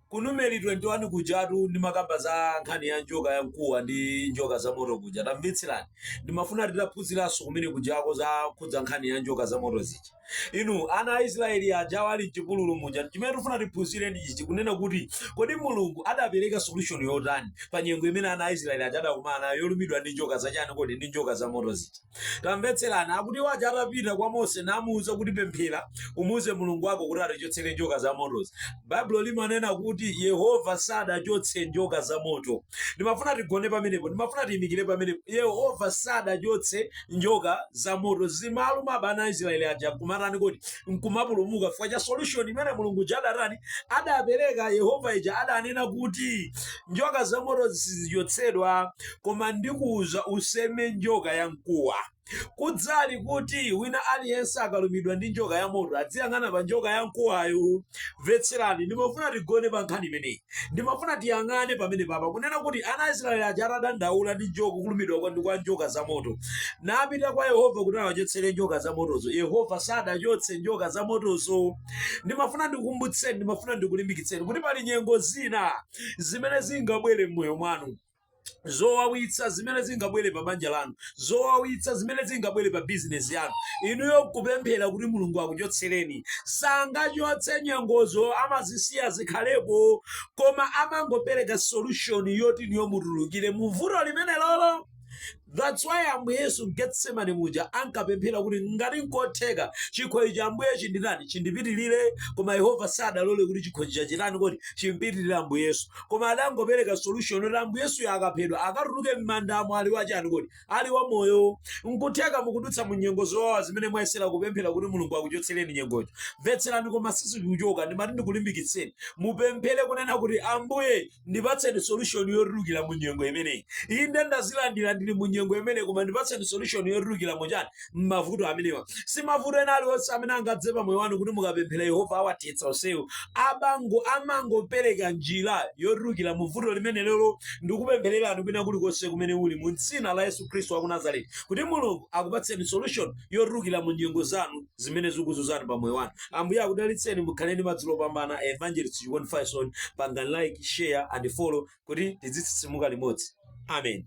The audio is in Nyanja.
Ku Numeri 21 kujatu ndimakamba za nkhani ya njoka ya mkuwa ndi njoka za moto kuja. Tamvetserani. Ndimafuna titaphunziranso kumene kujako zokhudza nkhani ya njoka za moto zija. Inu ana a Israeli aja ali m'chipululu muja. Chimene tifuna tiphunzire ndi ichi kunena kuti kodi Mulungu adapereka solution yotani pa nyengo imene ana a Israeli aja adakumana nayo yolumidwa ndi njoka zachani kodi ndi njoka za moto zija. tamvetserani akuti waja atapita kwa mose namuuza kuti pemphera umuuze mulungu wako kuti atichotsere njoka za motozi baibulo limanena kuti yehova sadachotse njoka za moto ndimafuna tigone pamenepo ndimafuna tiyimikire pamenepo yehova sadachotse njoka za moto zimawalumabe ana a israeli aja kumatani kodi nkumapulumuka chifukwa cha solution imene mulungu uja adatani adapereka yehova uja adanena kuti njoka za moto sizichotsedwa koma ndikuuza, Useme njoka yamkuwa. Kudzali kuti wina aliyense akalumidwa ndi njoka yamoto adziyang'ana pa njoka yamkuwayo. Mvetserani, ndimafuna tigone pa nkhani imeneyi. Ndimafuna tiyang'ane pamenepapa kunena kuti ana Aisraeli aja atadandaula ndi njoka kulumidwa kwa njoka zamoto napita kwa Yehova kuti awachotsere njoka zamotozo. Yehova sadachotse njoka zamotozo. Ndimafuna ndikukumbutseni, ndimafuna ndikulimbikitseni kuti pali nyengo zina zimene zingabwere m'moyo mwanu. zowawitsa zimene zingabwere pa banja lanu zowawitsa zimene zingabwere pa bizinesi yanu inuyo kupemphera kuti mulungu akuchotsereni sangachotse nyengozo amazisiya zikhalepo koma amangopereka solution yoti inuyo mutulukire mu vuto limenelolo That's why Ambuye Yesu m'Getsemane muja ankapemphera kuti ngati nkotheka chikho ichi Ambuye chinditani chindipitirire, koma Yehova sadalole kuti chikho chija chitani kodi chimpitirire Ambuye Yesu. Koma adangopereka solution yoti Ambuye Yesuyo akaphedwa akatuluke m'mandamo ali wachani kodi ali wamoyo. Nkutheka mukudutsa mu nyengo zowawa zimene mwayesera kupemphera kuti Mulungu akuchotsereni nyengozo. Mvetserani koma sizikuchoka ndimati ndikulimbikitseni mupemphere kunena kuti Ambuye ndipatseni solution yotulukira mu nyengo imeneyi inde ndazilandira ndili mu nyengo imeneyi koma ndipatseni solution yotulukira mu chani m'mavuto amenewa si mavuto ena aliwonse amene angadze pa moyo wanu kuti mukapemphera yehova awathetsa onsewo amango amangopereka njira yotulukira mu vuto limenelo ndikupemphererani kwina kulikonse kumene muli mu dzina la yesu khristu wa ku nazareti kuti mulungu akupatseni solution yotulukira mu nyengo zanu zimene zikukuzunzani pa moyo wanu ambuye akudalitseni mukhale ndi madzulo opambana evangelist chikondi faison pangani like share and follow kuti tizitsitsimuka limodzi amen